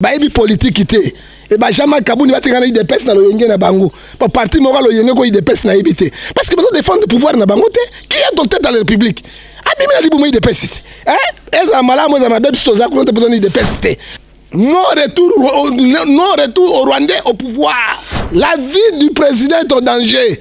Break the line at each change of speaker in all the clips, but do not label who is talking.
bayebi politiki te e bajama kabuni batekana idps na loyenge na bango po parti moko loyenge ko idps nayebi te parce que bazo défendre pouvoir na bango te qui est donc tête à la république abimi na libumu idps te eh? ezala malamu ezala mabe biso toza kuna te mpozani idps te non retour, non retour au rwandais au pouvoir la vie du président est en danger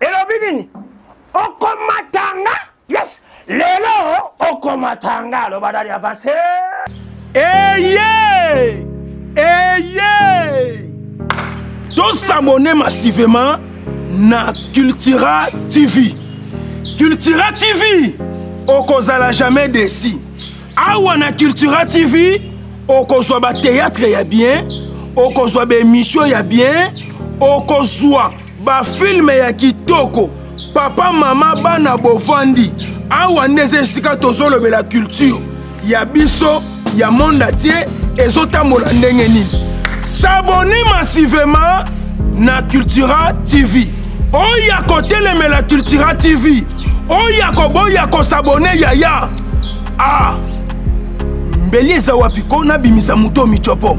Elobi nini? Okomatanga. Yes. Lelo okomatanga. Loba dali avance. Eye!
Eye! To s'abonner massivement na Cultura TV. Cultura TV okozala jamais déçu. Awa na Cultura TV okozwa ba théâtre ya bien, okozwa ba émission ya bien, okozwa Ba filme ya kitoko papa mama bana bovandi awa nde eza esika tozolobela culture ya biso ya monde atie ezotambola ndenge nini sabone massivement na cultura tv oya kotelemela cultura tv oya koboya kosabone yaya a ah. mbeli eza wapi ko nabimisa moto micopo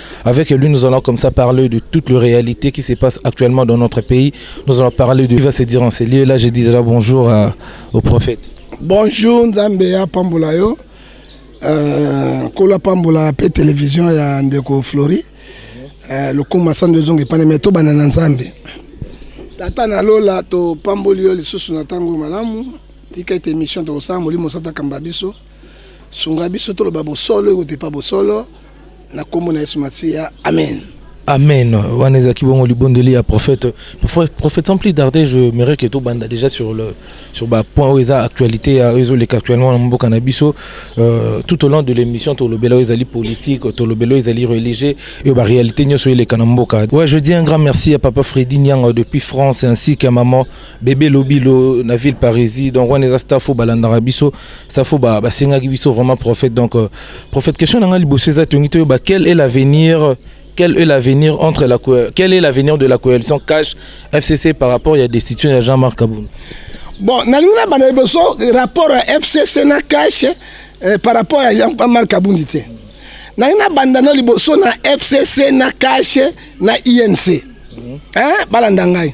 Avec lui, nous allons comme ça parler de toute la réalité qui se passe actuellement dans notre pays. Nous allons parler de... Il va se dire en ces lieux. Là, je dis déjà bonjour à, au prophète. Bonjour,
Nzambea Pambolayo. Euh, Kola Pambola, P Télévision, il y a Ndeko Flori. Euh, le combat sans deux ongles, pas de métaux, banana Nzambe. Tata na lola, to Pambolio, les sous na tango malamu. Tika ete émission, to sa, molimo sata kambabiso. Sungabiso, to le babosolo, ou te pas bosolo. na kombo na Yesu Masiya amen Amen.
Wana ezaki bongo libondeli ya prophète. Prophète sans plus tarder, je me que tout banda déjà sur le sur ba point où eza actualité à les actuellement mon mboka na biso euh, tout au long de l'émission to lobela ezali politique, to lobela ezali religieux et ba réalité nyoso eleka na mboka. Ouais, je dis un grand merci à papa Freddy Nyanga depuis France ainsi qu'à maman bebe lobilo na ville parisie donc wana eza staff oyo balandaka biso staff oyo basengaki biso vraiment prophète donc euh, prophète question na ngai liboso eza tongi toyeba quel est l'avenir quel est l'avenir entre la quel est l'avenir de la coalition cash fcc par rapport ya destitution ya jean marc kabund bon nalingi
na banda liboso rapport ya fcc na cash eh, par rapport ya jean marc kabundi te nalingi na banda na liboso na fcc na cash na inc mm -hmm. eh, balanda ngai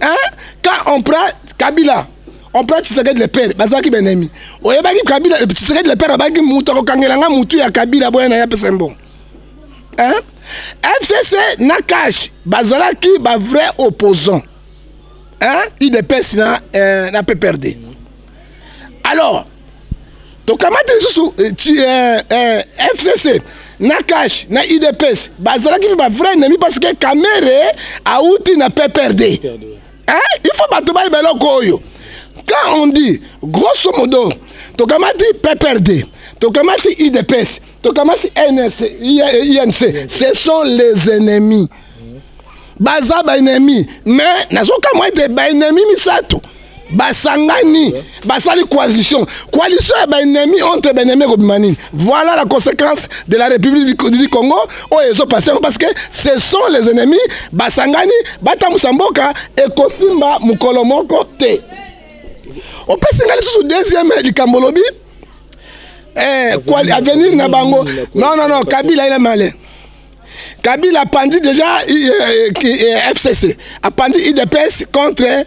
hein quand on prend kabila on prend tshisekedi le père bazalaki benemi oyebaki kabila tshisekedi le père abaki moto akokangela nga motu ya kabila boya na ye apesa mbongo hein fcc na cash bazalaki ba vrai opposant hein idps na, euh, na pprd alors tokamati lisusu eh, eh, eh, fcc na cash na udps bazalaki mpe bavrai ennemi parce que kamere auti na pprd hein? il faut bato bayeba eloko oyo quand on dit grosso modo tokamati pprd tokamati udps tokamati nrc inc ce sont les ennemis baza baennemi mais nazokamwa ete baennemi misato mm. basangani basali coalition coalition ya baennemi entre baennemi ekobima nini voilà la conséquence de la république du congo oyo ezopasse yango parce que ce sont les ennemis basangani batambusa mboka ekosimba mokolo moko te opesi ngai lisusu deuxième likambo olobi eh, avenir na bango non non non kabila ina male kabila apandi déjà eh, eh, eh, fcc apandi idps contre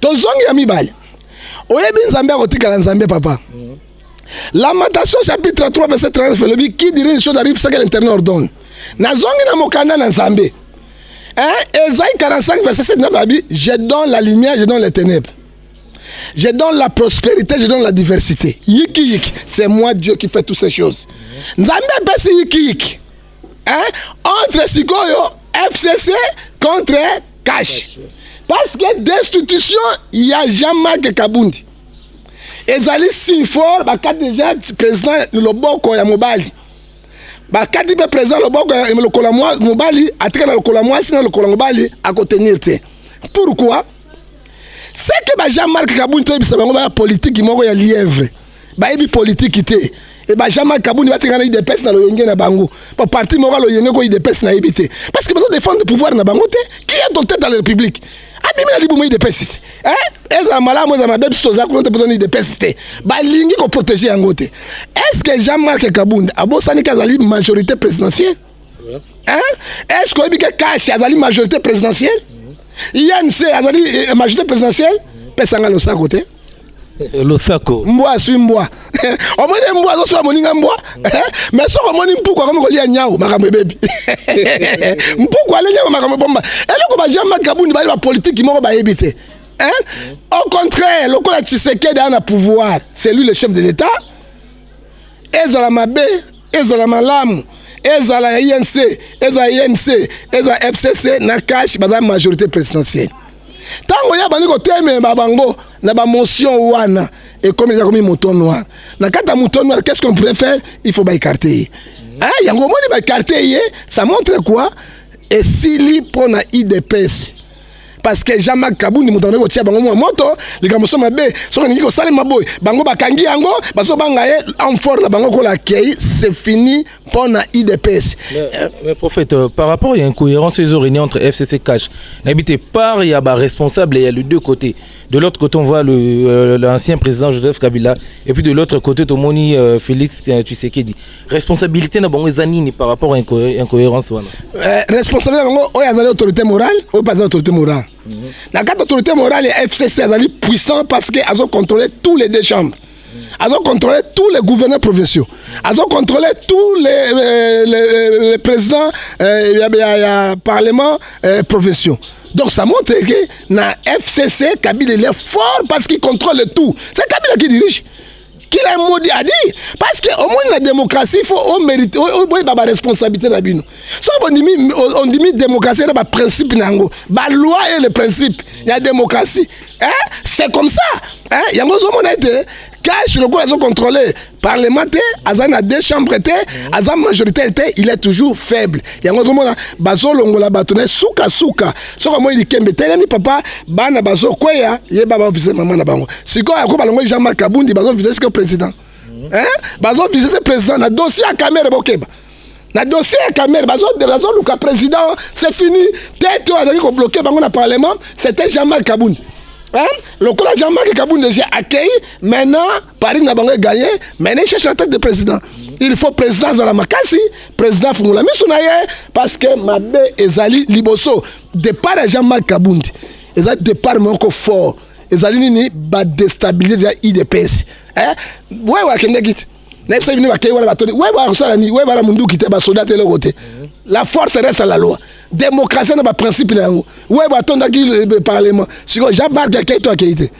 tozongi ya mibale oyebi nzambe akotikala nzambe papa mm. lamentation chapitre 3 verset 39 elobi qui dirait une chose arrive ce que l'interne ordonne nazongi na mokanda na nzambe eh, ezai 45 verset 7 nzambe abi je donne la lumière je donne les ténèbres je donne la prospérité je donne la diversité yiki yiki c'est moi dieu qui fait toutes ces choses nzambe apesi yiki yiki hein? entre sikoyo fcc contre cash parce que destitution ya jean marc kabundi ezali signe fort bakati deja président loboko ya mobali bakati mpe président loboko ya lokolo ya mobali atika na lokolo ya mwasi na lokolo ya mobali akotenir te pourquoi seke ba jean marc kabundi toyebisa bango baya politiki moko ya lièvre bayebi politiki te e ba jean marc kabuni batekana idps na loyenge na bango ba parti moko loyenge ko idps nayebi te parce que bazodefendre pouvoir na bango te qui est donc tête de la république abimi na libumu idps te eh? ezala malamu ezala mabe biso toza kuna te bozoni idps te balingi koprotege yango te est ce que jean marc kabund abosani ke azali majorité présidentielle Hein? Est-ce que Obike Kashi azali majorité présidentielle INC azali eh, majorité présidentielle pesa nga losako te eh, losako
mbwa aswi mbwa
omoni mbwa azoswa moninga mbwa eh, mais soki omoni mpuku akomi kolia nyau makambo ebebi mpuku alia nyau makambo ebomba eloko bajean makabundi bali bapolitiki moko bayebi te au contraire lokola tshisekedi aa na pouvoir c'est lui le chef de l'état ezala mabe ezala malamu ezala ya inc ezala ya imc ezala fcc na cash baza majorité présidentielle ntango ya bandi kotemema bango na bamotion wana ekomi ekomi moton noir na kati ya moton noir qu'est ce qu'on pourrait faire il faut baécarte ye ah, yango omoni baécarte ye ça montre quoi esili mpo na idps parce que jean marc kabundi moto andaki kotia bango mwa moto likambo so mabe soki alingi kosalema boye bango bakangi yango bazobanga ye amfort na bango kola akei c'est fini mpo na idps mais, euh, mais prophète
euh, par rapport ya incohérence ezo réuni entre fcc cash nayebi te part ya baresponsable ya le deux côté de l'autre côté on voit le euh, l'ancien président joseph kabila et puis de l'autre côté tomoni euh, félix tshisekedi responsabilité na bango eza nini par rapport à incohérence wana euh, responsabilité na bango
oyo azali autorité morale oyo mpe azali autorité morale mm -hmm. na kati autorité morale ya fcc azali puissant parce que azo contrôler tous les deux chambres azo contrôler tous les gouverneurs provinciaux azo contrôler tous les, euh, les, euh, les présidents euh, ya, ya, ya parlement euh, provinciaux donc ça montre que na fcc kabila il est fort parce qu'il contrôle tout c'est kabila qui dirige kila modi adi parce que omoni na démocratie fo omérite boyeba baresponsabilité na bino soki bondimi ondimi démocratie na baprincipe na yango baloi e le principe ya démocratie c'est comme ça yango ozomona ete cash lokola azo contrôler parlement te aza na deux chambres te aza majoritaire te il est toujours faible yango ozomona bazolongola bato na ye sukasuka soki amoni likembe telemi papa bana bazokweya ye ba bavise mama na bango sikoyo yako balongoli jean marc abundi bazovise sikoyo président bazovise se président na dossier ya kamere bokeba na dossier ya kamere bazoluka président c'est fini tete oyo azalaki kobloke bango na parlement c'était jean marc abundi lokola jean marc kabundi eje accueilli maintenant Paris na bango eganye mais ne cherche la tête de président il faut président azala makasi président afungola miso na ye parce que mabe ezali liboso départ ya jean marc kabundi eza départ moko fort ezali nini badestabilize deja idps eh? wewe akendeki te nayebisa bino bakei wana batoni wewe akosala nini wewe bana munduki te basoda te eloko te la force reste à la loi démocratie na baprincipe na yango wewe atondaki eh, parlement sikoyo jean marc akei to akei te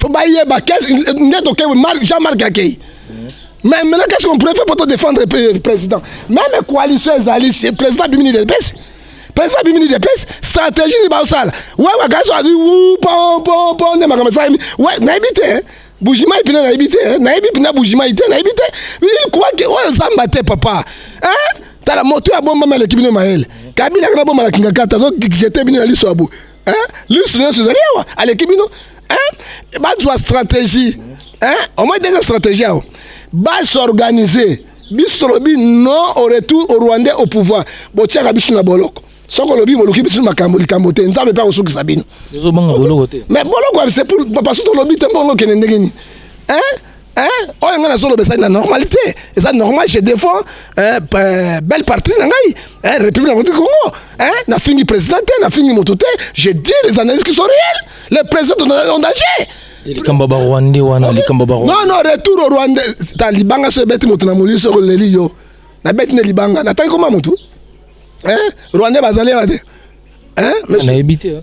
faut bayeba nde tokei jean marc akei mais maintenant qu'est-ce qu'on pourrait faire pour te défendre euh, président même coalition ezali président abimi ni depesi président abimi ni depesi stratégie ni baosala we wakasi azwi wu pompompo nde makambo esalami we nayebi te hein. bujimai mpena nayebi te hein. nayebi mpena bujimai te nayebi te il croit que oyo zamba te papa hein? tala moto ya bombama aleki bino mayele kabila kana bomala kingakata azokikete bino ya liso ya boye eh, lisu nyonso ezali awa aleki bino eh, bazwa stratégie eh, omoi deuxième stratégie awa basorganize biso tolobi non au retour au rwandais au pouvoir botiaka biso na boloko soki olobi boluki biso makambo likambo te nzambe mpe akosukisa bino mais
boloko c'est pour
papa so tolobi te mbongo okende ndenge nini Hein? oyo ngai nazoloba ezali na normal te eza normal je défends eh, eh, belle partie na ngai eh, république yango congo eh, nafingi président te nafingi moto te je dis les analyses qui sont réelles le président en danger likambo ba
rwandais wana likambo ba non non retour au
rwandais ta libanga so ebeti moto na molili soko leli yo nabeti nde libanga natangi koma motu eh, rwandais bazali awa te eh, nayebi te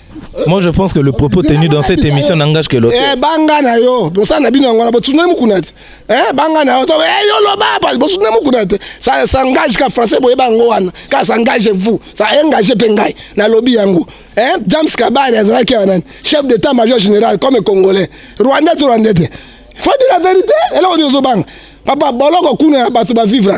Moi, je pense que
le propos tenu dans cette émission n'engage que l'autre. Eh, banga na yo,
bosa na bino ngona botsuna mukunati. Eh, banga na yo, to eh yo loba pas botsuna mukunati. Ça s'engage ka français boye bango wana. Ka s'engage vous, ça engage pe ngai na lobby yango. Eh, James Kabari azalaki wana chef d'état major général comme congolais. Rwanda to Rwanda te. Faut dire la vérité, et là on est au bang. Papa boloko kuna bato ba vivre.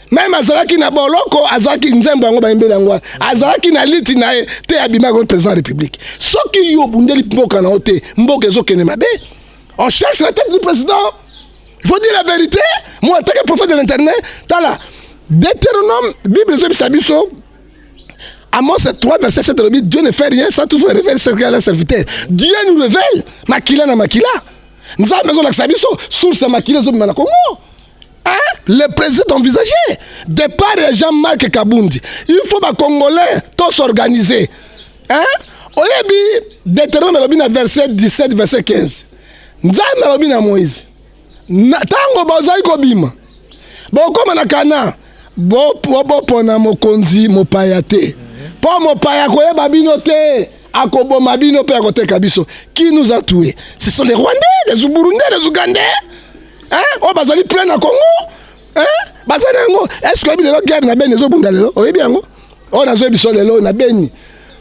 meme azalaki na boloko azalaki nzembo yango bayembeli yango wana azalaki na liti na ye te abimaki koti président ya république soki yo obundeli mboka na yo te mboka ezokende mabe on cherche la tête du président il faut dire la vérité moi en tant que prophète de l'internet tala deutéronome bible ezobisa biso Amos 3, verset 7, Dieu ne fait rien sans toujours révéler ce qu'il a serviteur. Dieu nous révèle, makila na makila. Nzambe ezolakisa biso source ya makila ezobima na Congo. le président envisagé départ ya Jean-Marc Kabundi il faut ba congolais to s'organiser hein oyebi Deutéronome alobi na verset 17 verset 15 Nzambe alobi na Moïse ntango bazali kobima bokoma na Kana bopona mokonzi mopaya te mpo mopaya koyeba bino te akoboma bino mpe akoteka biso qui nous a tué ce sont les rwandais les burundais les ougandais eh, oyo bazali plein na congo eh, baza na yango eske oyebi lelo guerre na beni ezobunda lelo oyebi yango oyo nazoyi biso lelo na beni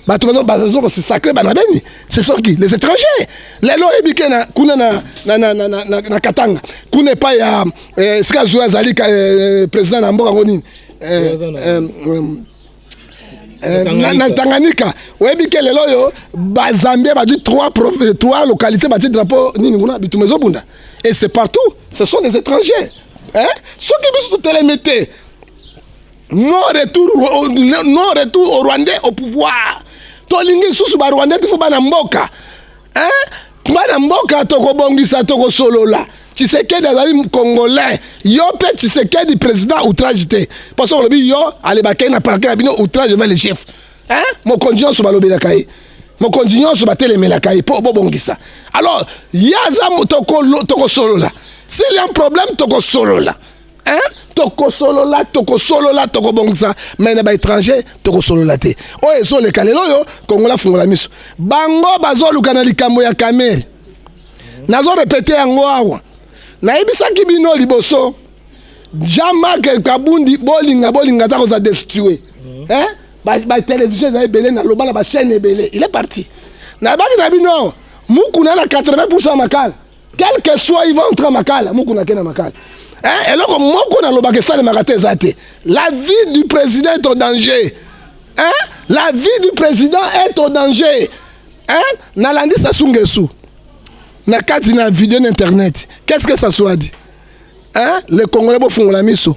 bato bazo kosisakle bana beni c'est soki les étrangers lelo oyebi ke kuna na, na, na, na, na, na katanga kuna epai ya eh, sika zuwa azali eh, président na mboka yango nini eh, eh, eh, Eh, na Tanganyika oyebi ke lelo oyo bazambia badi trois, euh, trois localité bati drapeau nini kuna bituma ezobunda et c'est partout ce sont des étrangers hein? soki biso totelemi te non retour, non retour au rwandais au pouvoir tolingi lisusu barwandais te fo bana mboka hein? Bana mboka tokobongisa tokosolola Tshisekedi azali congolais yo mpe Tshisekedi président outrage te mpo soki olobi yo alebakei na parke na bino outrage va le chef mokonzi nyonso balobelaka ye mokonzi nyonso batelemelaka ye mpo bobongisa alors ye aza tokosolola s'il y a un problème tokosolola Hein? tokosolola tokosolola tokobongisa mai na baétranger tokosolola te oyo ezoleka lelo oyo kongola afungola miso bango bazoluka na likambo ya kamere nazo repete yango awa nayebisaki bino liboso jean marc kabundi bolinga bolinga aza koza destue eh? batelevizio eza ebele naloba na bachaine ebele il est parti nayebaki na bino mukuna na 80 pourcent ya makala quel que soit il va entrer makala mukuna kena makala eh, eloko moko nalobaka esalemaka te eza te la vie du président est au danger eh? la vie du président est au danger eh? nalandi sasu ngesu na kati na video na internet qu'est ce que sasu adi eh? le congolais bofungola miso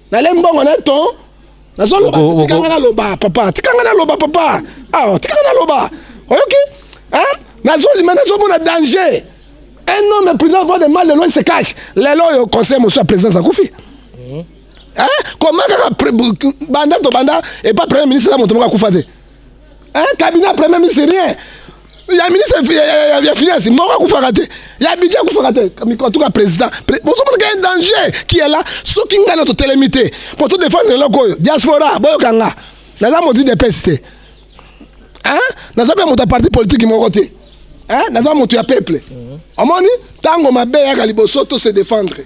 Nalem mbongo na ton. Nazo loba tika nga loba papa. Tika nga loba papa. Ah, tika nga loba. Oyoki? Hein? Nazo lima nazo mona danger. Un homme président voit de mal de loin se cache. Lelo yo conseil monsieur à présence à Koufi. Mhm. Hein? Comment kaka banda to banda et pas premier ministre la moto moko akufa te. un cabinet ya premier ministre rien ya ministre ya finance moko akufaka te ya budget akufaka te mikotuka président bozomona ka danger qui est là soki ngai na totelemi te mpo todefendre eloko oyo diaspora boyoka nga naza modi de pesi te naza mpe moto ya parti politiki moko te naza moto ya peuple omoni ntango mabe eyaka liboso to se défendre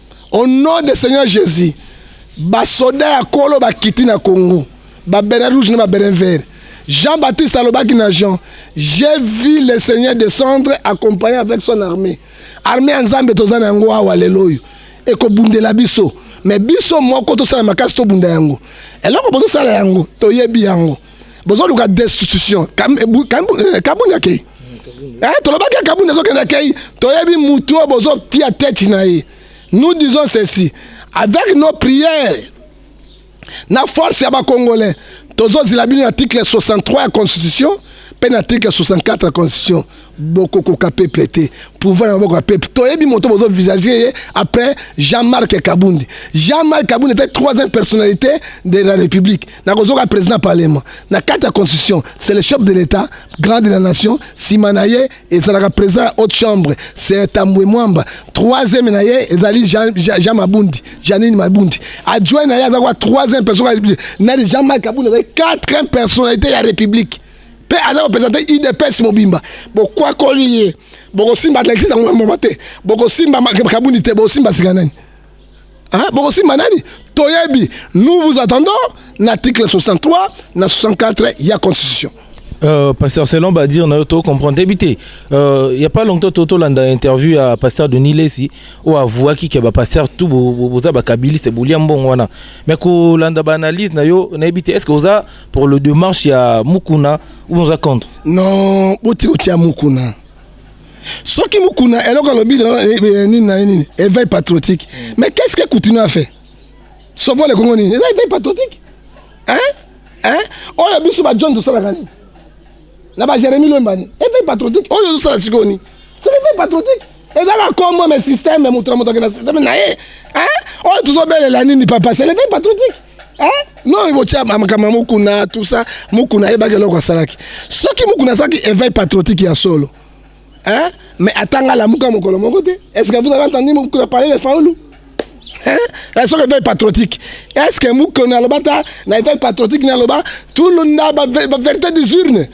Au nom de Seigneur Jésus, basoda ya kolo bakiti na Congo, babere rouge na babere vert. Jean-Baptiste alobaki na Jean, j'ai vu le Seigneur descendre accompagné avec son armée. Armée ya Nzambe toza na yango awa lelo oyo ekobundela biso, mais biso moko tosala makasi tobunda yango. Eloko bozosala yango toyebi yango. bozoluka destitution eh, kabunda kei eh, tolobaki ya kabunda ezokenda kei toyebi mutu oyo bozotia tete na ye nous disons ceci avec nos prières na force ya bacongolais tozozila bino na article 63 ya constitution mpe na article 64 ya constitution bokokoka peuple te pouvoir na maboko ya peuple toyebi moto bozovisage ye après jean marc kabundi jean marc kabundi ete troisième personnalité de la république nakozoka président parlement na kati ya constitution c'est le chef de l'état grand de la nation nsima na ye ezalaka président ya haute chambre c'est tambwe mwamba troisième na ye ezali jean, jean, jean mabundi janine mabundi adjoint na ye aza kwa troisième personne ya république nani jean marc abunda azali quatrième personnalité ya république mpe aza kopresente udps mobimba bokwakoli ye bokosimba atletisme yango mama te bokosimba kabundi te bokosimba sika nani Hein? Bokosimba nani? Toyebi. Nous vous attendons l'article 63 na 64 ya constitution. Euh, pasteur
selon badir na yo tocomprendre teyebi te euh, ya pas longtemps to tolanda interview ya pasteur denis lesi oyo avouaki ke bapasteur tu boza bakabiliste bolia mbongo wana mais kolanda baanalyse na yo nayebi te est ce que oza pour le démarche ya mukuna ou oza contre non boti
otia mukuna soki mukuna eloko alobi eh, eh, nini na nini éveil patriotique mm. mais qu'est ce que coutinho a fait sovo le congo nini eza éveil patriotique hein hein oyo biso ba john tosalaka nini na ba jérémi lwembani éveil patriotique oyo ozosala sikoyo nini c'est l'éveil patriotique eza na kombo mais système moto na moto akenda système na ye hein oyo tozobelela nini papa c'est l'éveil patriotique Hein? non botya makambo ya mokuna tout ça mokuna ayebaki eloko asalaki soki mokuna azalaki éveil patriotique ya solo hein? mais atanga lamuka mokolo moko te est ce que vous avez entendu mokuna parler de faulu hein? Eh, soki éveil patriotique est ce que mokuna aloba ta na éveil patriotique na aloba tulunda bavérité des urnes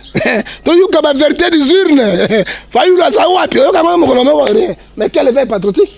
toyoka bavérité des urnes fayulu aza wapi oyoka ngo mokolo moko rien mais quel éveil patriotique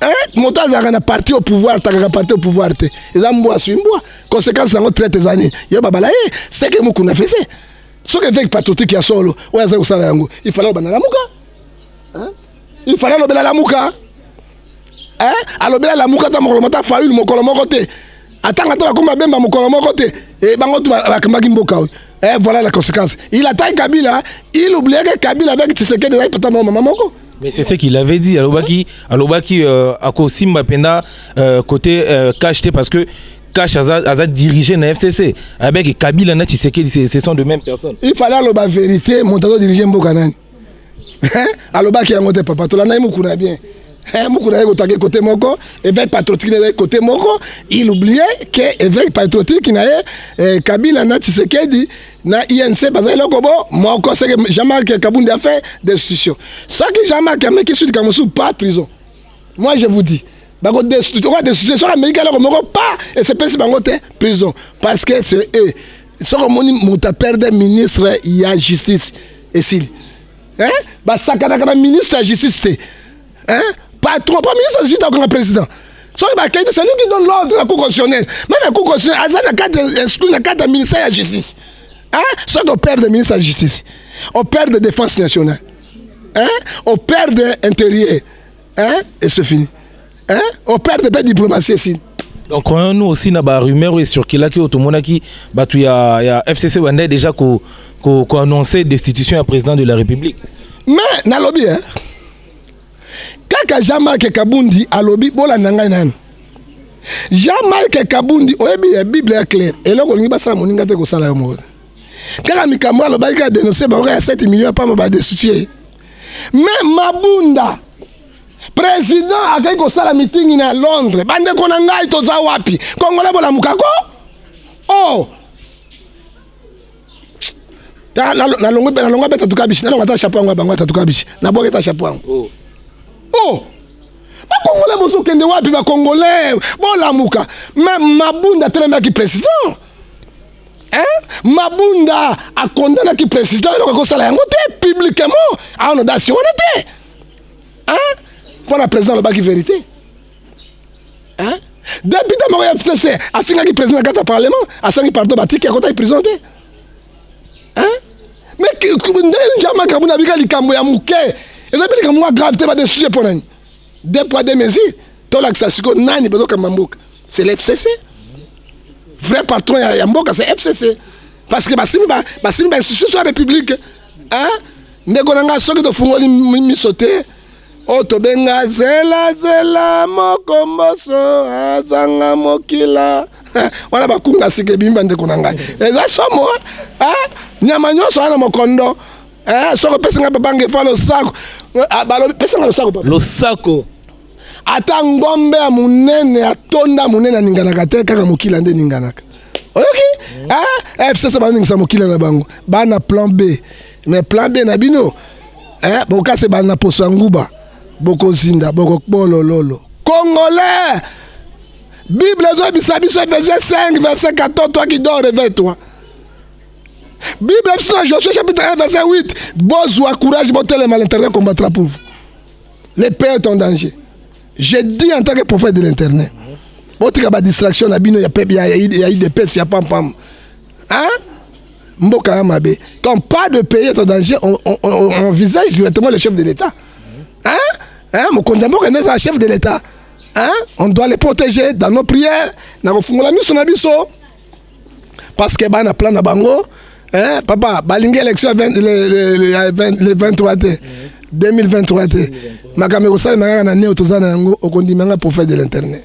Eh, moto azalaka na parti au pouvoir atangaka parti au pouvoir te eza mbwa aswi mbwa conséquence yango traite eza nini yo babala ye eh, seke mokuna fese soki eveki patriotique ya solo oyo azali kosala yango ifala obanda lamuka eh? ifala alobela lamuka alobela lamuka ata mokolo mata faule mokolo moko te atanga ata bakoma bemba mokolo moko te bango tu bakambaki mboka oyo voilà la conséquence il attaque kabila il oublieke kabila avec tshisekedi ezalaki pata mama moko Mais c'est ce qu'il avait
dit. Alobaki, alobaki euh, ako simba penda euh, côté euh, cash te parce que cash aza, aza dirigé na FCC. Avec Kabila na Tshisekedi, c'est- ce sont de mêmes personnes. il fallait aloba verité
moto azodirige mboka nani Hein? alobaki yango te papa tolanda ye mokuna bien Hein, mokuna ye kotake kote moko éveil patriotique na ye kote moko il oublie ke éveil patriotique na ye eh, kabila na tshisekedi na INC baza eloko bo moko seke Jean-Marc Kabundi a fait destitution soki Jean-Marc ameki sud kamosu pas prison moi je vous dis bako destitution oka destitution soki ameki eloko moko pas esepesi bango te prison parce que c'est eux soki omoni moto aperde ministre ya justice esili eh? basakanaka na ministre ya justice te Hein? Patron, premier ministre juste akanga président. soki bakei te celui qui donne l'ordre na cour constitutionnelle meme la cour constitutionnelle aza na kati exclu na kati ya ministère ya justice soki operde ministre ya justice operde défense nationale operde intérieur et ce fini operde mpe diplomatie esili donc croyons nous
aussi na barumeur oyo ecirculaki oyo tomonaki bato ya, ya fcc bandai déjà koannonce ko, ko destitution ya président de la république mais
nalobi eh? kaka jean marc kabundi alobi bolanda ngai nani jean marc kabundi oyebi ya bible ya claire eloko olingi basala moninga te kosala yo moko kaka mikambo alobaki kaka denonse bango ya 7 million ya pamba badestitue me mabunda président akei kosala mitingi na londres bandeko na ngai toza wapi kongola bolamuka ko o oh! ta na na longo na longo beta tukabishi na longo ta chapeau yango bango ta tukabishi na boke ta chapeau yango oh, oh. bakongole bozokende wapi bakongole bolamuka ma mabunda atelemaki président mabunda akondanaki président eloko akosala yango te publiquement awa na dasi wana te mpo na président alobaki vérité hein depute moko ya fcc afingaki président na kati ya parlement asangi pardon batiki akotaki prison te hein mais ndenge nja makambo na bika likambo ya moke eza mpe likambo mwa grave te badesusie mpo nani deux poids deux mesures tolakisa siko nani bazokamba mboka c'est le fcc vrai patron ya, ya mboka c'est fcc parce que basimi ba, basimi ba institution ya république hein ndeko na ngai soki tofungoli miso te oyo tobenga zela zela mokomboso azanga mokila wana bakunga sika ebimi bandeko na ngai eza somo eh? nyama nyonso wana mokondo eh? soki opesi ngai babange fa losako ah, balobi pesa ngai losako papa losako ata ngombe ya monene atonda monene aninganaka te kaka mokila nde eninganaka oyoki eh? eh, fcc baningisa mokila na bango bana plan b Mais plan B na bino eh, bokase bana na poso ya nguba bokozinda bokokbolololo congolais bible ezoyebisa biso efese 5 verset 14 toi qui dors réveille toi bible biso na joshua chapitre 1 verset 8 bozwa courage botelema l'internet combattra pour vous le pays est en danger je dis en tant que prophète de l'internet botika badistraction na bino ya, ya, ya, ya idps ya pampam hein? mboka ya mabe quand pas de pays est en danger on, on, on, on envisage directement le chef de l'état hein? hein? mokonzi ya mboka nde eza chef de l'état hein? on doit les protéger dans nos prières na kofungola miso na biso parce que bana plan na bango hein? papa balingi élection le 23 te 2023 te makambo ekosalema kaka na neo toza na yango okondima nga prophète de l'internet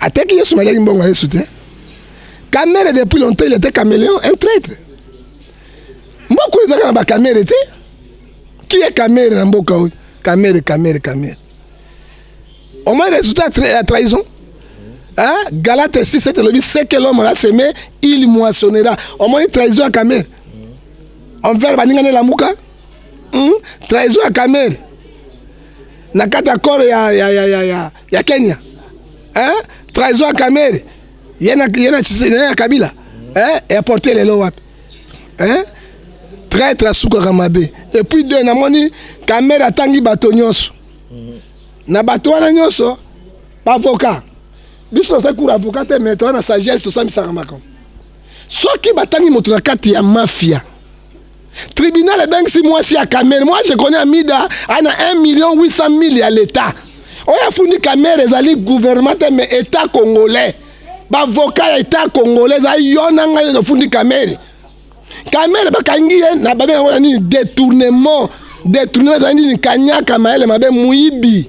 ateki yesu maliaki mbongo ya yesu te kamere depuis longtemps il était caméléon un traître mboka oyo ezalaka na bakamere te qui est kamere na mboka oyo kamere kamere kamere omoi résultat ya trahison Hein? Galate 6, 7, le dit, c'est que l'homme a semé, il moissonnera. Au moins, trahison à Kamer. On verra, baningane la mouka. Hum? Trahison à Kamer. Na kata koro ya, ya, ya, ya, ya. ya Kenya eh? trahison ya Kamere yena yena ya Kabila eh? ya porte lelo wapi eh? traitre asukaka mabe et puis deux namoni Kamere atangi bato nyonso na bato wana nyonso baavocat biso tozali kura avocat te mais toza na sagesse tosambisaka makambo soki batangi moto na kati ya mafia tribunal ebengisi mwasi ya kamere moi je connais amida ana 1 million 800 000 ya leta oyo afundi kamere ezali gouvernement te mais etat congolais bavoka ya etat congolais eza yo na ngai nyonso ofundi kamere kamere bakangi ye na babe yango na nini détournement détournement ezali nini kanyaka mayele mabe moyibi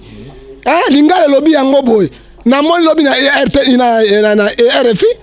eh, lingala elobi yango boye namoni lobi na, e na, na, na, na e rfi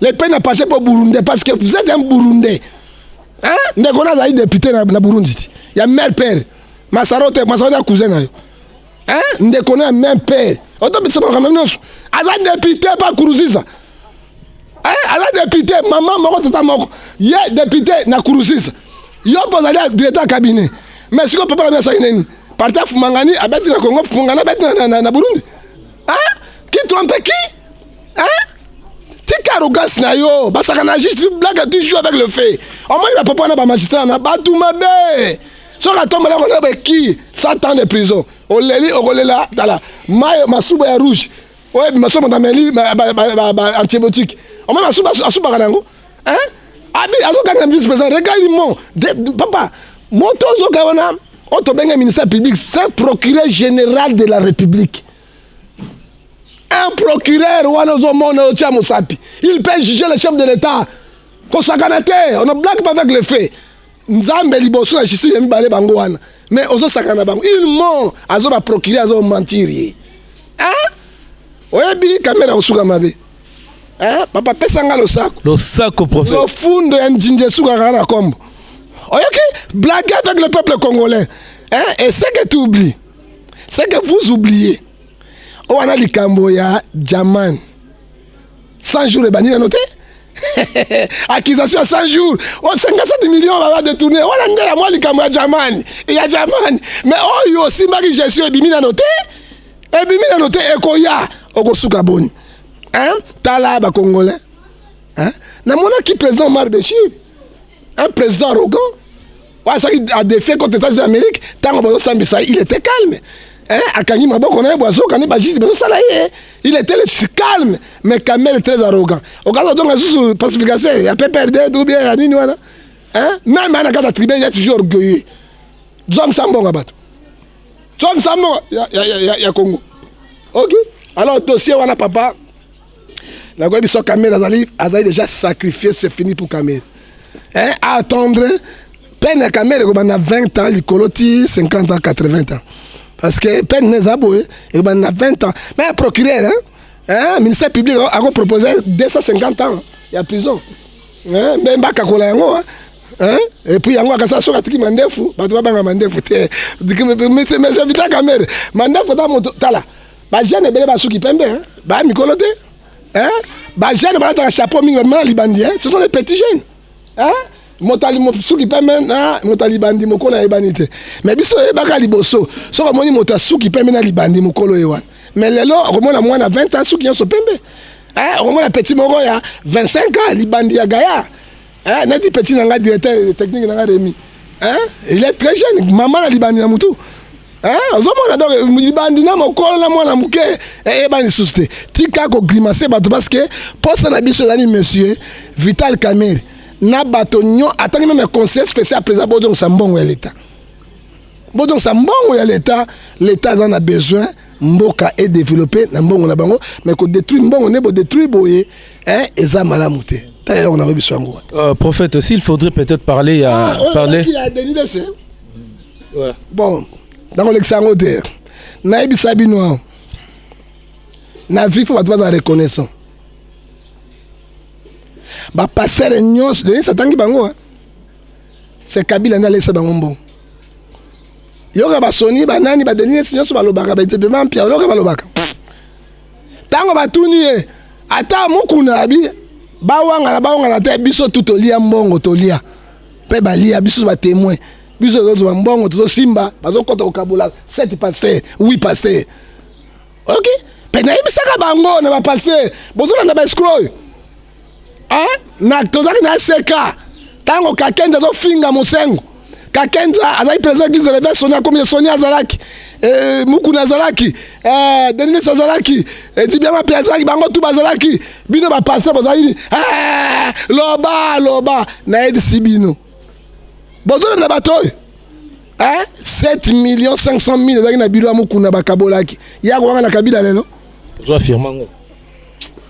le pen a passe po burundais parce que vous êtes un burundais hein? ndeko na azali député na, na burundi ti ya mère père masaro te masaro ya cousin na yo hein? ndeko na ya mère père otobisa makambo nyonso aza député pa kuruziza eh, aza député mama moko tata moko ye député na kuruziza yo mpo ozali directeur ya cabinet mais sikoyo papa na mi asali nini parti afumangani abeti na congo fumangani abeti na, na, na, na burundi hein? qui trompe qui Hein? tika arrogance na yo basakana juste tu blague tu joue avec le fait omoni bapapa na bamagistrat na bato mabe soki atombola kona beki 100 ans de prison oleli okolela tala mayo masuba ya rouge oyo ebima somo na meli antibiotique omoni masuba asubaka na yango hein abi azokanga vice président regarde mon papa moto ozoka wana oyo tobenge ministère public saint procureur général de la république un procureur wana ozomona otia mosapi il peut juger le chef de l'état kosakana te on ne blague pas avec le fait nzambe liboso na justice ya mibale bango wana mais ozosakana bango il mont azo baprocureur azo mentir ye hein? oyebi kamera kosuka mabe hein? papa pesa nga losako losako prophète
lofundo ya njinji
esukaka na kombo oyoki blague avec le peuple congolais hein? et ce que tu oublies c'est que vous oubliez oyo oh, wana likambo ya jaman 100 jours ebandi nano te accusation ya 100 jours o 57 million baba détourne wana nde ya mwa likambo ya jamani ya jamani mais oyo oh, osimbaki gestion ebimi nano te ebimi nano te ekoya okosuka boni tala bakongolais namonaki président omar beshir un président arrogant oyo asaki adefie contre états unis amérique ntango bazosambisa il était calme hein? akangi maboko na ye bwazoka nde bajiji bazosala ye il était calme mais kamere très arrogant okaza ozonga susu pacificateur ya pprd ou bien ya nini wana hein? meme ana kata tribune ya toujours orgueilleux zongisa mbongo ya bato zongisa mbongo ya, ya, ya, ya congo ok alors dossier wana papa nakoyebi biso kamere azali azali déjà sacrifié c'est fini pour kamere eh, attendre peine ya kamere ekobanda 20 ans likolo ti 50 ans 80 ans parce que peine eza boye ekobanda 20 ans mais procureur hein, hein, ministère public akopropose 250 ans ya prison hein, mbe mbakakola yango hein. Hein? Et puis yango akasa soki atiki mandefu bato babanga mandefu te mese vita kamere mandefu ta moto tala Ba jeune ebele ba suki pembe hein. Ba mikolo te. Hein? Ba jeune balataka chapeau mingi ba libandi hein. Ce sont les petits jeunes. Hein? motali suki pembe na motali libandi mokolo ayebani te mais biso oyebaka liboso soki omoni moto asuki pembe na libandi mokolo ye wana mais lelo okomona mwana 20 ans suki nyonso pembe eh, okomona petit moko ya 25 ans libandi ya gayard Eh, neti petit na ngai directeur technique na ngai Remy. Hein? Il est très jeune, maman na libandi na mutu. Hein? Ozomona donc libandi na mokolo na mwana moke eyeba eh, eh, lisusu te. Tika ko grimacer bato parce que posa na biso ezali monsieur Vital Kamerhe na bato nyo atangi meme conseil spécial président bodongisa mbongo ya l'État. Bodongisa mbongo ya l'État, l'État aza na besoin mboka e developpe na mbongo na bango mais ko détruire mbongo ne bo détruire boye hein eza malamu te ta eloko na yebi sango euh, prophète aussi il
faudrait peut-être parler ya ah, oh, parler qui a Denis Lesse ouais bon
dans le sango te na yebi sabino na vie faut bato baza reconnaissant ba passer nyonso Denis atangi bango hein c'est Kabila nda lesa bango mbongo yoka basoni banani badelinesi nyonso balobaka baetepema mpia yoka balobaka ntango batuni ye ata mokuna abi bawangana bawangana te biso tu tolia mbongo tolia mpe balia biso batemoin biso tozozwa mbongo tozosimba bazokota kokabola 7 paster 8 paster ok mpe nayebisaka bango na bapaster bozolanda baescro oyo eh? na tozalaki na seka ntango kakenza azofinga mosengo kakenza azalaki président église de réveil soni akomi ye soni azalaki eh, mukuna azalaki eh, denilis azalaki ezibiama eh, mpe azalaki bango tu bazalaki bino bapaster bozalaki nini loba loba nayebisi bino bozolanda bato oyo 7 million 500 mille ezalaki na bilo ya mukuna bakabolaki yako wanga na kabila lelo ozwa firmango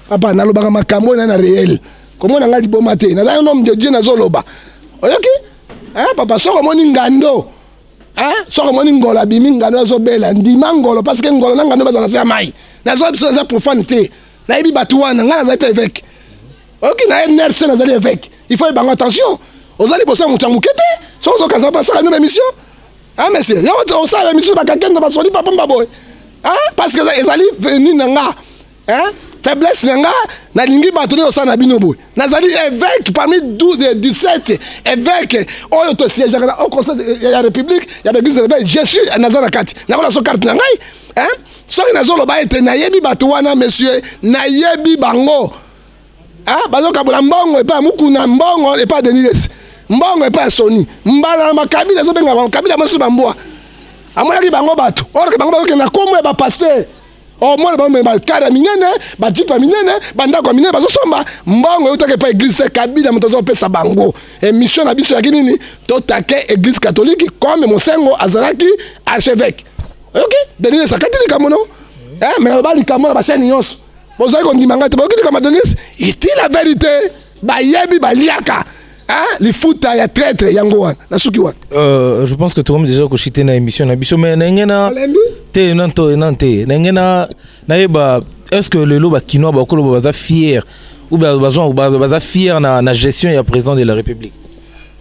papa
nalobaka makambo oyo na na réel komona ngai liboma te naza un homme de dieu nazoloba oyoki eh, papa soko omoni ngando eh, soko omoni ngolo abimi ngando azobela ndima ngolo parce que ngolo na ngando bazala se ya mai nazoya biso naza profane te nayebi bato wana ngai nazali mpe évêque oyoki na ye nerf se nazali évêque il faut ebango attention ozali bosa moto ya moke te soki ozokanisa basala mino ba émission Ah monsieur, yo to osala mission ba kakenda ba soli papa mbaboy. Hein? Parce que ezali venu na nga. Hein? Faiblesse na nga nalingi bato nde osala na bino boye nazali évêque parmi 12 17 évêque oyo tosiégeaka na au conseil ya république ya baeglise de réveil je suis naza na kati nakola so carte na ngai hein? soki nazoloba ete nayebi bato wana monsieur nayebi bango Ah, bazokabola mbongo epai ya mukuna mbongo epai ya denilesi mbongo epai ya soni mbala na makabila ezobenga bango kabila mosusu bambwa amonaki bango bato orke bango bazokende na kombo ya bapaster omona oh, bango bakare ya minene bajipe ya minene bandako ya minene bazosomba mbongo eutaki epai eglise kabila moto azopesa bango emission na biso yaki nini totake eglise katolike comme mosengo azalaki archevêque oyoki okay? denilesi akati likambo no eh, me naloba likambo na bashani nyonso bozali kondima ngai te boyoki likambo denise iti la verité bayebi baliaka Hein? lifuta ya traitre yango wana nasuki wana euh, je pense que tokomi
déjà koshite na émission na biso mais ndenge na te nanto nan te ndenge na nayeba est ce que lelo bakinois bakoloba baza fier ou baza fier na, na gestion ya président de la république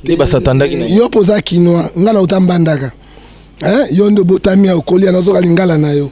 nde basatandaki na yo mpo oza kinois
ngai na otambandaka yo nde obotami ya okoli ya nazoka lingala na yo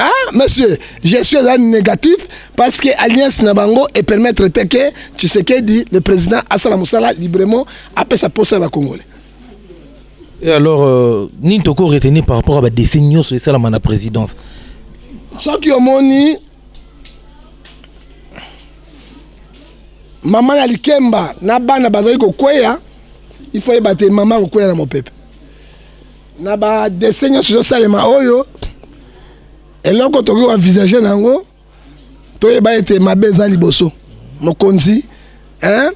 Ah, monsieur, je suis un négatif parce que alliance Nabango et permettre que tu sais que dit le président Assala Moussala librement après sa poste à Congolais.
Et alors, euh, ni toko retenu par rapport à la décennie sur ça la présidence. Ce
qui ont moni, maman ya likemba na bana bazali kokweya il faut yeba te mama akokwea na mopepe na ba dessin nyonso ezosalema oyo eloko tokoki koenvisage na yango toyeba ete mabe eza liboso mokonzi hein?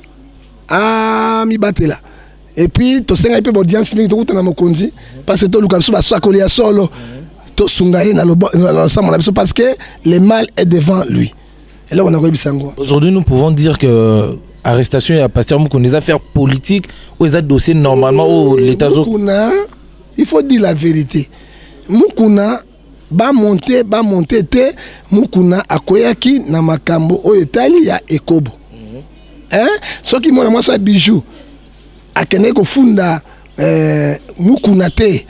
amibatela ah, epuis tosengaki mpe baaudience mingi tokuta na mokonzi parce que toluka biso basakoli ya solo tosunga ye na losambo na biso parce que le mal est
devant
lui eloko nakoyebisa
yango
aujourd'hui nous pouvons dire que arrestation
ya pasteur mukuna eza faire politique oyo eza dossier normalement oyo l'état mukuna
il faut dire la vérité mukuna bamonte bamonte te mukuna akweyaki na makambo oyo etali ya ekobo mm -hmm. eh? soki mwana mwasi ya bijou akendeki kofunda eh, mukuna te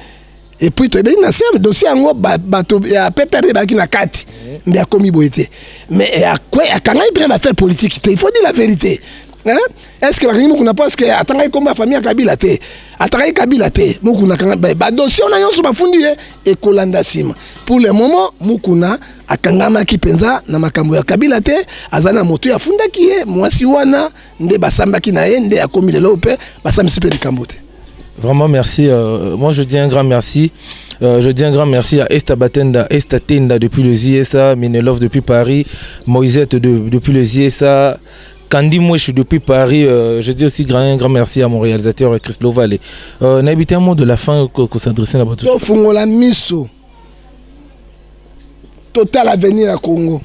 et puis toyebi na se dossier yango bato ya ppr ebaki na kati nde akomi boye te mais eh, akangaki mpe na bafaire politique te il faut dire la vérité Hein? est ce que bakangi mokuna mpo eske atangaki nkombo ya famille ya kabila te atangaki kabila te mokuna akanga badosie wana nyonso bafundi ye ekolanda nsima pour le moment mokuna akangamaki mpenza na makambo ya kabila te aza na moto ye afundaki ye mwasi wana nde basambaki na ye nde akomi lelo mpe basambisi mpe likambo te Vraiment, merci.
Euh, moi, je dis un grand merci. Euh, je dis un grand merci à Esta Batenda, Esta Tenda depuis le ZSA, Minelov depuis Paris, Moisette de, depuis le ZSA, Candy Mouche depuis Paris. Euh, je dis aussi grand, un grand merci à mon réalisateur Chris Lovalet. Euh, N'habitez un mot de la fin que, que s'adresser là-bas. Tofungola miso.
totala avenir ya congo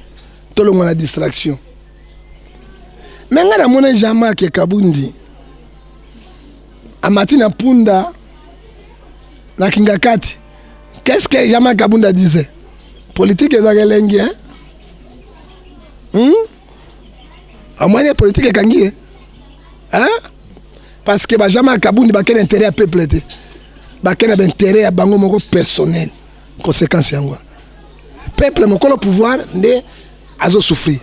tolongwa na distraction me ngai namona jean mark kabundi amati na mpunda na kingakati qu'est ce que jean mark kabundi adise politike ezaka elengi hein? hmm? amwani ya politike ekangi ye hein? parce que bajama ya kabundi bakei na intérêt ya peuple te bakei na baintérêt ya bango moko personnel conséquence yango peuple mokolo pouvoir nde azosouffrir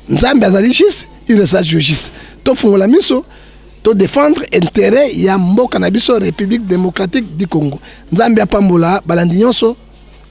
nzambe azali juste il resta juste tofungola miso to défendre intérêt ya mboka na biso république démocratique du congo nzambe apambola balandi nyonso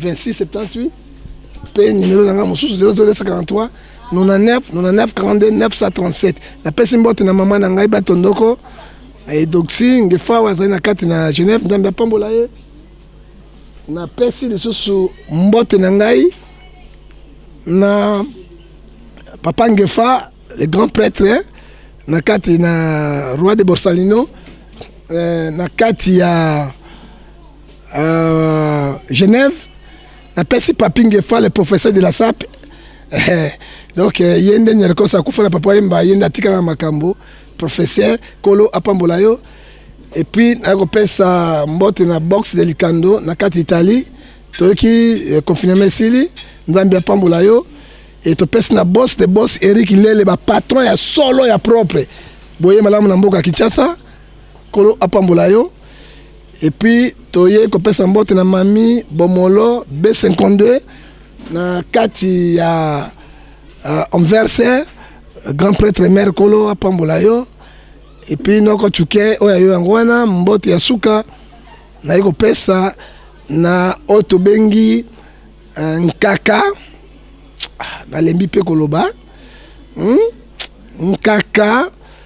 2678 mpe nimero na ngai mosusu 00243 99 99 42 937 napesi mbote na mama na ngai bato ndoko edoxi ngefawa azali na kati na genève nzambe apambola ye napesi lisusu mbote na ngai na papa ngefa le grand prêtre na kati na roi de borsalino eh, na kati ya euh, Genève napesi papi ngefa le professeur de la sape eh, donc eh, ye nde nyerkosa akufa na papa yemba ye nde atikala na makambo professeur kolo apambola yo epuis naye kopesa mbote na boxe de likando na kati italie toyoki eh, confinement esili nzambe apambola yo e topesi na bos de bos erik lele bapatron ya solo ya propre boye malamu na mboka kinshasa Kolo apambola yo. Et puis toye kopesa mbote na mami Bomolo B52 na kati ya uh, Anverse grand prêtre mère Kolo apambola yo. Et puis noko chuke oyo yo yango wana mbote ya suka naye kopesa na oyo tobengi uh, nkaka ah, nalembi mpe koloba hmm? nkaka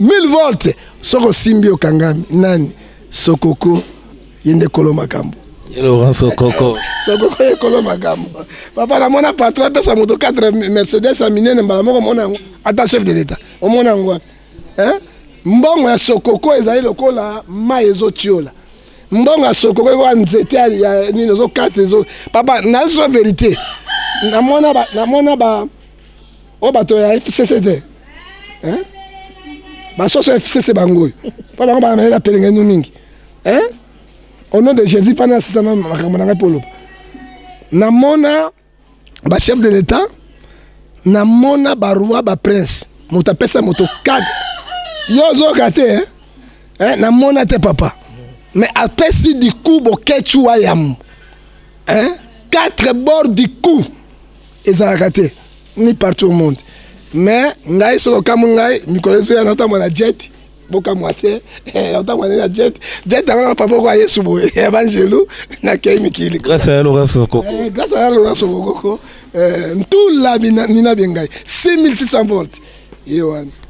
1000 volts soki osimbi okangami nani sokoko ye nde kolo makambo Laurent Sokoko.
Sokoko ye kolo
makambo. Papa na mona patron pesa moto 4 Mercedes ya minene mbala moko mona yango ata chef de l'etat. Omona yango wapi? Hein? Mbongo ya Sokoko ezali lokola mai ezotiola. Mbongo ya Sokoko ekoka nzete ya nini ozokata ezo. Papa nazo verite. Namona ba namona ba o oh, bato ya fcc te eh? basoso ya fcc bango oyo mpo bango bana mayela pelengenu mingi eh? au nom de jésus mpo nasisama makambo na ngai mpo oloba namona bachef de l'état namona baroi baprince moto apesa moto kade yo ozoyoka te eh? eh, namona te papa mais apesi du coup boketshu wa yamo eh? quatre bord du coup ezalaka te ni partout au monde mais ngai soki okamwi ngai mikolo ezoya naotambwa na jet bokamwa te eh, otambwa nde na jet jet yango na papa oko ayesu boye ya banjelu nakei mikili grâce ya lorenso sokoko
eh, grâce ya lorenso
sokoko eh, ntula nina bie ngai 6600 volte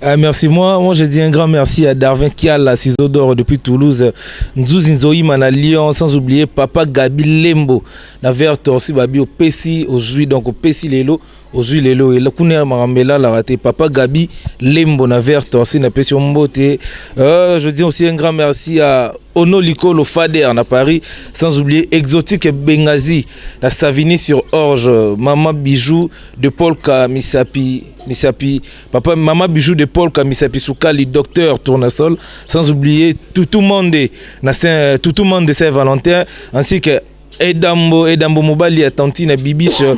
Ah,
merci. Moi, moi, je dis un grand merci à Darwin Kiala, Ciseaux d'Or depuis Toulouse, Nzuzi Nzoïman à Lyon, sans oublier Papa Gabi Lembo, na vers Torsi Babi au Pessi, au Zui, donc au Pessi Lelo, au Zui Lelo, et la Kounia Marambela l'a raté. Papa Gabi Lembo, na vers Torsi, na Pessi Mbote. Euh, je dis aussi un grand merci à Ono Likolo Fader na Paris, sans oublier Exotique Bengazi, la Savini sur Orge, Maman Bijou de Paul Kamisapi. Misapi, papa, maman Bijou de Paul, Misapi Soukali, docteur Tournasol, sans oublier tout le monde, euh, tout le monde de Saint-Valentin, ainsi que Edambo, Edambo Mobali, à Tantine Bibiche, euh,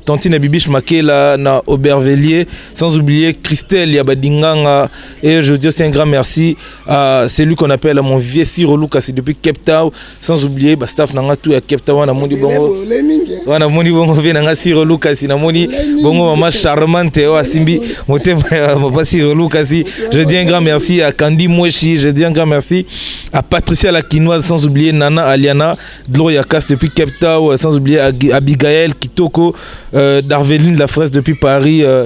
Tantine Bibiche Makela, na Aubervilliers, sans oublier Christelle Yabadinganga, et je dis aussi un grand merci à celui qu'on appelle mon vieux Siro Lucas depuis Cape Town, sans oublier ba staff nanga tout ya Cape Town na moni bongo wana moni bongo vie nanga Siro Lucas na moni bongo maman charmante o asimbi motema ya papa Siro Lucas je dis un grand merci à Candy Mweshi je dis un grand merci à Patricia la Kinoise sans oublier Nana Aliana Gloria Cast depuis Cape Town sans oublier Abigail Kitoko euh, Darveline la fraise depuis Paris euh,